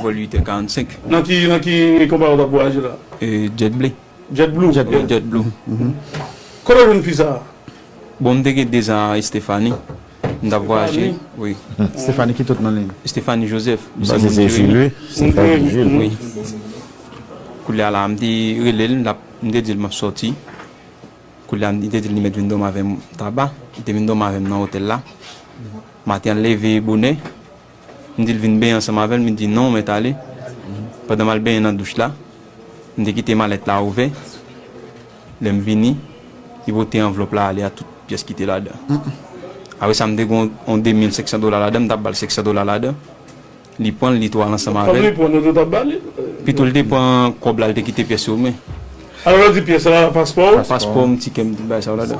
Vol 8 è 45. Nan ki nan ki konpayi wap vwayaje la? Jet ble. Jet blue? Jet blue, jet blue. Kote w jwenn fi sa a? Bon m te gen 2 zan a Estefani. M tap vwayaje. Wi. Estefani ki tout non li? Estefani Joseph. M panse se Jil wi. Estefani Jil. Wi. Koulye a la m te rele l, m te di l map soti. Koulye a li te di m li mèt vin dòmi avè m Taba. Li te vin dòmi avè m nan otèl la. Maten an l leve bonè. M di l vin benyen ansanm avè l, li di non mèt ale. Pandan m al benyen nan douch la, m te kite malèt la ouvè. Lè m vini, li pote anvlòp la ale ak tout pyès ki te ladan. Apre sa m te gen yon 2.500 dola ladan, m t ap ba l 500 dola ladan. Li pran l, li tou al ansanm avè l. Pito l te pran kòb la, li te kite pyès yo men. Paspò m, tikè m, tout bagay sa yo ladan.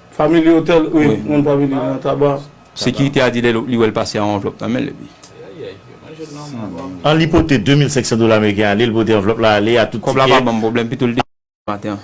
Family Hotel ui moun pa vini nan taba. Sekirite a di lè li wè l pase a yon anvlòp nan men l epi. An li pote 2500 dola ameriken ale li pote anvlòp la ale a tout tikè. Kòb la pa banm pwoblèm pito l te maten an.